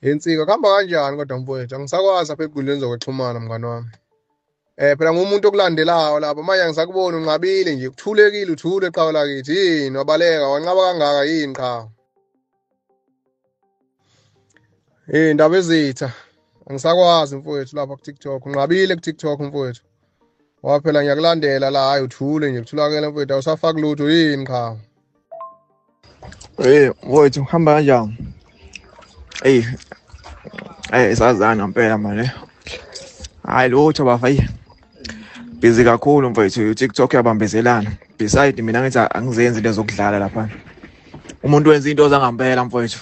Yensika kuhamba kanjani kodwa mfowethu angisakwazi apha ekuguleni zokuxhumana mngane wami. Eh phela ngumuntu okulandelayo lapha manje angisakuboni unqabile nje kuthulekile uthule qhawe lakithi yini wabaleka wanqaba kangaka yini qhawe. Hey ndaba ezitha angisakwazi mfowethu lapha ku TikTok unqabile ku TikTok mfowethu ngoba phela ngiyakulandela la hayi uthule nje kuthulakele mfowethu awusafaki lutho yini qha hey mfowethu uhamba kanjani hey hey sazana mpela manje hayi lutho bafayi busy kakhulu mfowethu uTikTok yabambezelana beside mina ngithi angizenzi into zokudlala lapha umuntu wenza into zangampela mfowethu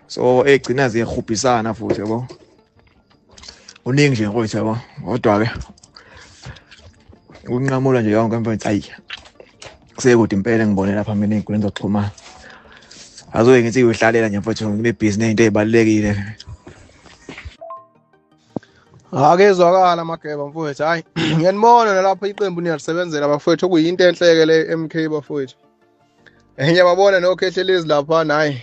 so egcina ziyehubhisana futhi yabo uningi nje mfowethu yabo kodwa ke ukunqamula nje yonke mfowethu ayi kusekude impela ngibone lapha mina ezinkundleni zokuxhumana azoye ngithi uyohlalela nje mfowethu nginebhizinisi into ezibalulekile akezwakala mageba mfowethu hayi ngiyanibona nalapho iqembu niyalisebenzela bafowethu okuyinto enhleke le MK bafowethu ngiyababona nokhehlelezi lapha nayi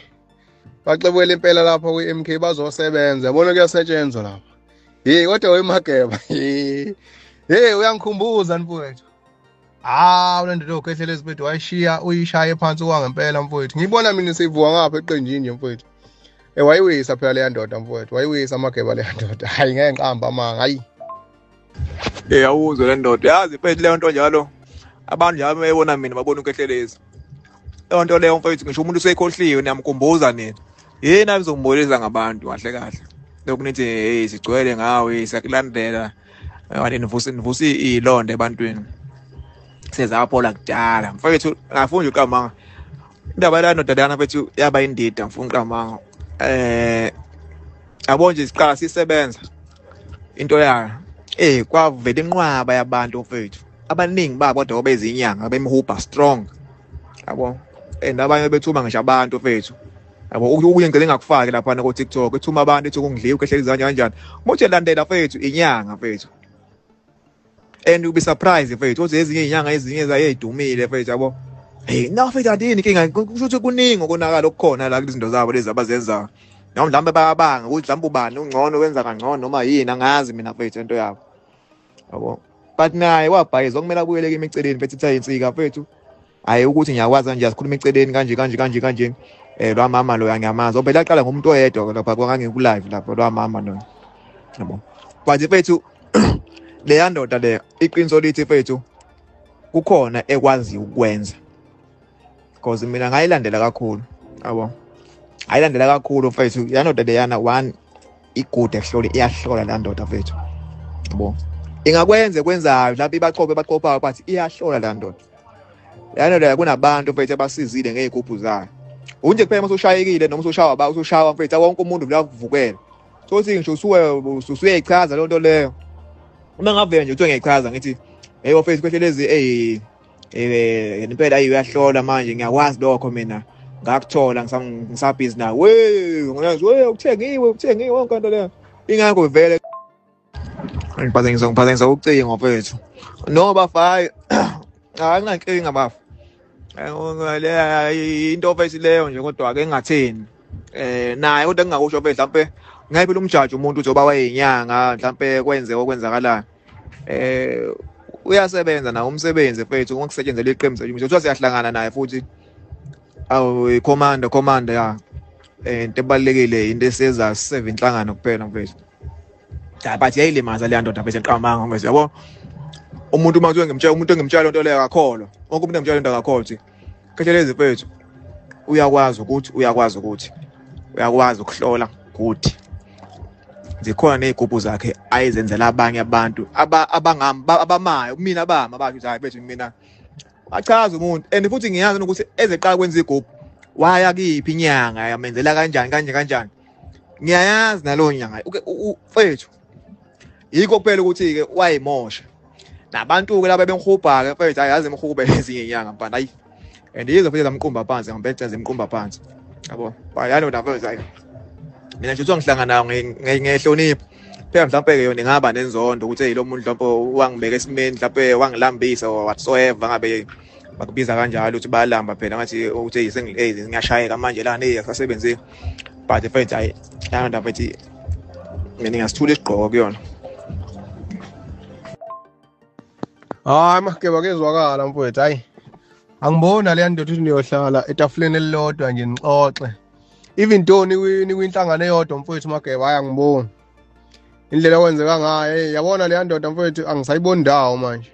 baxebukela impela lapha kwi-MK bazosebenza yabona kuyasetshenzwa lapha hey kodwa wemageba hey uyangikhumbuza mfowethu hawu le ndoda yokhehlela ezibhedu wayishiya uyishaye phansi kwangempela mfowethu ngiyibona mina seyivuka ngapha eqenjini nje mfowethu e wayiwisa phela leya ndoda mfowethu wayiwisa amageba leya ndoda hhayi ngeke ngiqamba amanga hayi e awuzwe le ndoda yazi mfowethu leyo nto njalo abantu njalo bebona mina babona ukehlelezi leyo nto leyo mfowethu ngisho umuntu usekhohliwe niyamkhumbuza nina yini abizombulisa ngabantu kahle kahle lokhu nithi hey sigcwele ngawe sakulandela Ngani nivusa nivusa ilonde ebantwini. Sezaphola kudala. Mfowethu ngafunda uqamanga. Indaba la nodadana bethu yaba indida ngifuna uqamanga. Eh yabo nje siqala sisebenza into yayo. Eh kwavela inqwaba yabantu mfowethu. Abaningi babo kodwa bezinyanga bemhuba strong. Yabo. And abanye bethuma ngisho abantu mfowethu. yabo ukuye ngicela ngakufake lapha na ko TikTok ethuma abantu ethi kungidliwe ukhehlelizanya kanjani manje landela fethu inyanga fethu and you'll be surprised fethu uthi ezinye inyanga ezinye zayedumile fethu yabo hey no fethu adini inkinga kusho ukuthi kuningi okonakala okukhona la kuzinto zabo lezi abazenzayo noma mhlawumbe bayabanga ukuthi mhlawumbe ubani ungcono wenza kangcono noma yini angazi mina fethu into yabo yabo but naye wabhayiza okumele abuyeleke imiceleni fethu ithayinsika fethu hayi ukuthi ngiyakwazi kanje asikhuluma eceleni kanje kanje kanje kanje eh lwamama loya ngiyamazi obhela aqala ngomuntu oyedwa lapha kwangangiku live lapho lwamama loya yabo but mfethu leya ndoda le iqiniso lithi mfethu kukhona ekwazi ukwenza because mina ngayilandela kakhulu yabo ayilandela kakhulu mfethu yanoda leyana one igude kuhlole iyahlola la ndoda mfethu yabo ingakwenze kwenzayo lapho ibaqophe baqophayo bathi iyahlola la ndoda la ndoda kunabantu mfethu abasizile ngey'gubhu zayo unje kuphela uma usushayekile noma usushawa ba usushawa mfethu wonke umuntu vula kuvukela sothi ngisho usuwe usuyeyichaza loo nto leyo uma ngavela nje kuthiwe ngiyayichaza ngithi heyi wafethu kwehle lezi eyi eh impela ayi uyahlola manje ngiyakwazi lokho mina ngakuthola ngisabhizi nawe we ngiyazi we ukuthengiwe ukuthengiwe wonke into leyo ingakho vele ngiphazanyisa ngiphazanyisa ucingo mfethu no bafayo anginankinga bafa eh, into ofesi leyo nje kodwa ke engatheni eh naye kodwa engingakusho mfethu mhlampe ngayiphi lomjaji umuntu uzoba wayeyinyanga mhlampe kwenze okwenzakalayo eh uyasebenza nawo umsebenzi mfethu ngokusetshenzela iqembu sethu mfethu kuthiwa siyahlangana naye futhi awu commander commander ya eh, into ebalekile into esiza siseve inhlangano kuphela mfethu cha but yayilimaza le ndoda mfethu eqamanga mfethu yabo umuntu uma kuthiwa ngimtshela umuntu engimtshela lento leyo akakholwa wonke umuntu engimtshela lento akakholwa Phecelezi mfethu uyakwazi ukuthi uyakwazi ukuthi uyakwazi ukuhlola ukuthi zikhona nezigubhu zakhe ayizenzela abanye abantu abangami abamayo mina abama bathi hayi bethu mina achaza umuntu and futhi ngiyazi ukuthi ezeqala kwenza igubhu waya kiphi inyanga yamenzela kanjani kanje kanjani ngiyayazi nalowo nyanga mfethu yikho kuphela ukuthi-ke wayimosha nabantu-ke laba bengihubha-ke mfethu hayi yazi imhube ezinye inyanga mfana hayi and yizo futhi zamqumba phansi ngambethe zimqumba phansi yabo bayalo nafethu hayi mina nje uzongihlangana ngehlonipho phela mhlawumbe-ke yona ingaba nenzondo ukuthi eyi lo muntu mhlawumbe wangibeka esimeni mhlawumbe wangilambisa or whatsoever ngabe bakubiza kanjalo ukuthi bayalamba phela ngathi ukuthi eyi ngiyashayeka manje lana eyi akusasebenzeki but mfethu hayi yalo ndafethi mina ngingasithula isigqoko kuyona hayi mageba kezwakala mfowethu hayi angibona leya ndoda ukuthi niyohlala etafuleni elilodwa nje nixoxe even though nikwinhlangano eyodwa mfowethu mageba hayi angiboni indlela okwenzeka ngayo hey yabona leya ndoda mfowethu angisayiboni ndawo manje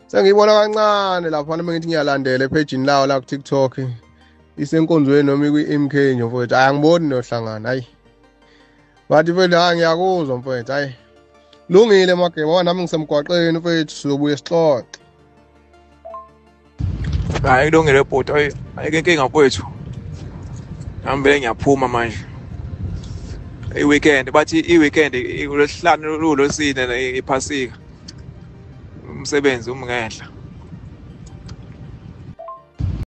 sengiyibona kancane lapha noma ngithi ngiyalandela ephejini lawo la ku-tiktok isenkonzweni noma ikwi-mk nje mfowethu hayi angiboni nohlangana hayi bathi mfethu hayi ngiyakuzwa mfethu hayi lungile mageba wa nami ngisemgwaqeni mfethu sizobuye sixoxe hayi kulungile bhuti hayi ayike inkinga kwethu ngihambele ngiyaphuma manje i-weekend bathi i-weekend kulesihlanu lulosine iphasika umsebenzi umngenhla